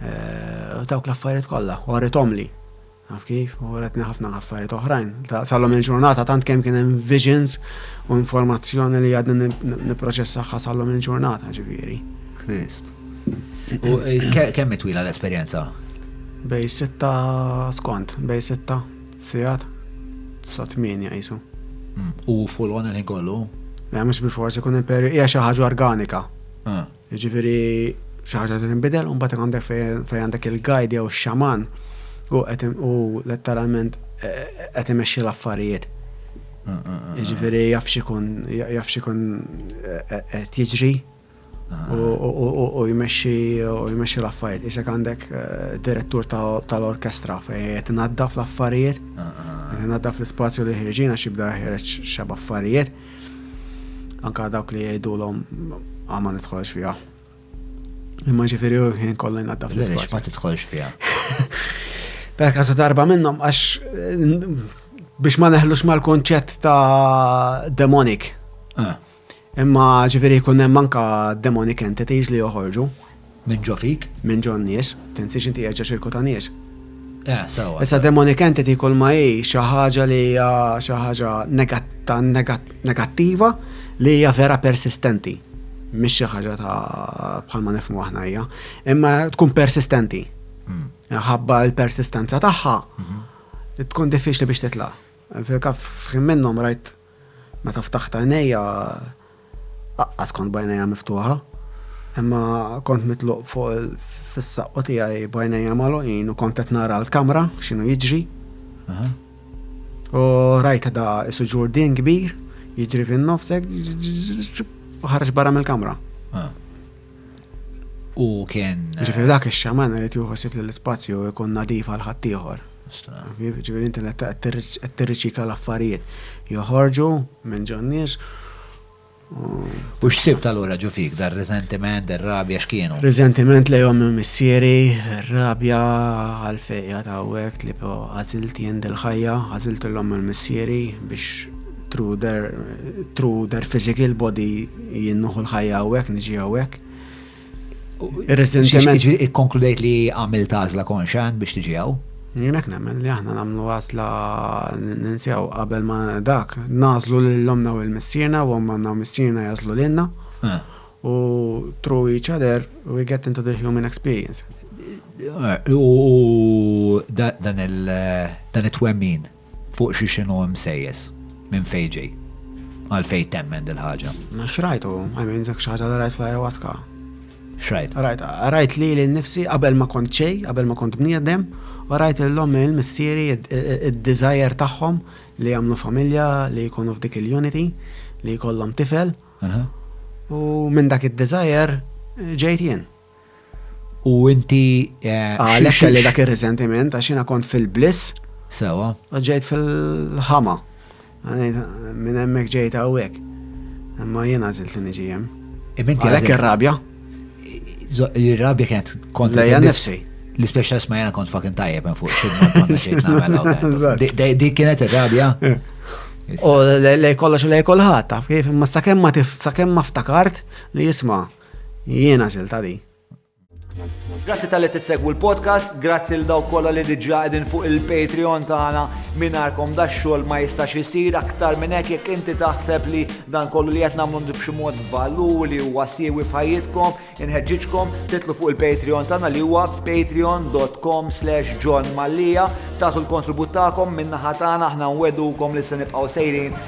U dawk l-affarijiet kollha, u għarithomli. Għaf kif, u għaretni ħafna l-affarijiet oħrajn. Sallom il-ġurnata, tant kemm kien hemm visions u informazzjoni li għadni niproċessaħħa sallom il-ġurnata, ġifieri. Krist. U eh, kemm twila l-esperjenza? Bej sitta skont, bej sitta, sijat, sa tmienja jisu. Mm. U full on il-ħin kollu? Le, mux bil-forsi kun imperi, hija xi ħaġa organika. Ah. Jiġifieri xi ħaġa li tinbidel u mbagħad għandek fejn għandek il-guide jew ix-xaman u qed u letteralment qed imexxi l-affarijiet. Jiġifieri jaf x'ikun jaf x'ikun qed jiġri u jmexxi u jmexxi l-affarijiet. Isek għandek direttur tal-orkestra fejn qed inaddaf l-affarijiet, qed inaddaf l-ispazju li ħirġin għax jibda jeħreġ xi b'affarijiet. Anka dawk li jgħidulhom ah, ma nidħolx fiha. Imma ġifieri u ħin kollha jnaddaf Lex ma l-ispazju. tidħolx fiha. Per kasu darba minnhom għax biex ma neħlux mal-konċett ta' demonic. Eh. Imma ġifieri jkun hemm anka demonic entities li joħorġu. Min ġo fik. Min ġo n-nies. Tinsiex inti qiegħed ġo ċirku ta' nies. Eh, sewwa. Issa demonic entity kulma hi xi ħaġa li hija xi ħaġa negattiva li hija vera persistenti. Mhix xi ħaġa ta' bħalma nifhmu aħna hija. Imma tkun persistenti. Hmm. Ħabba l-persistenza tagħha mhm. tkun diffiċli biex titla'. Fil-kaf f'ħin minnhom rajt Meta ftaħt għajnejja, laqqas kont b'għajnejja miftuħa, imma kont mitluq fuq fis-saqqu tiegħi b'għajnejja magħluqin u kont qed nara l-kamra x'inhu jiġri. U rajt da isu ġurdien kbir jiġri fin-nofs hekk u ħareġ barra mill-kamra. U kien. Ġifieri dak ix-xaman irid juħosib li l-ispazju jkun nadif għal ħaddieħor. Ġifieri inti qed tirriċikla l-affarijiet. Joħorġu minn ġon nies U x'sib tal-ura ġu fik, dar resentiment, dar rabja x'kienu? Resentiment li jom missieri, rabja għal-fejja ta' għek li po għazilt jend il-ħajja, għazilt l-lom il-missieri biex Through their, through their physical body, jien nuħu l-ħajja hawnhekk, niġi hawnhekk. Reżentement. Ġifieri ikkonkludejt li għamilt għażla konxa biex tiġi hawn. Jien hekk nemmen li aħna nagħmlu għażla ninsew qabel ma dak nażlu lil omna u l-missierna u omna u missierna jażlu lilna. Eh. U through each other we get into the human experience. Eh, u dan il-twemmin. Fuq xi x'inhu imsejjes? Minn fejn ġej? Għalfejn temmen dil-ħaġa? X'rajtu? I mean, dak xi ħaġa li rajt fl-ayahuasca. X'rajt? Rajt, rajt lili nnifsi qabel ma kont xejn, qabel ma kont bniedem, u rajt lil ommi u lil missieri id-desire tagħhom li jagħmlu familja, li jkunu f'dik il-unity, li jkollhom tifel. U minn dak id-desire ġejt jien. U inti. Eh, Għalek kelli dak ir-riżentiment għax jiena kont fil-bliss. Sewa. U ġejt fil-ħama. Minn hemmhekk ġejt hawnhekk. Imma jiena żilt niġi hemm. Għalek ir-rabja. Ir-rabja kienet kont. Lejja nifsi l-ispeċa ma jena kont fakin tajjeb minn fuq Di kienet ir-rabja. Eh. U lej kollox u lej kolħat, taf kif, ma sakemm ma sakemm ma ftakart li jisma, Jiena silta di. Grazzi tal-li tissegwu l-podcast, grazzi l daw kolla li diġa għedin fuq il-Patreon tagħna minarkom da xogħol ma jistax isir aktar minn hekk jekk inti taħseb li dan kollu li qed nagħmlu b'xi mod valur li huwa siewi f'ħajjitkom, inħeġġiġkom titlu fuq il-Patreon tagħna li huwa patreon.com slash John Mallia tagħtu l-kontribut tagħkom minnaħa tagħna aħna nwedukom li se nibqgħu sejrin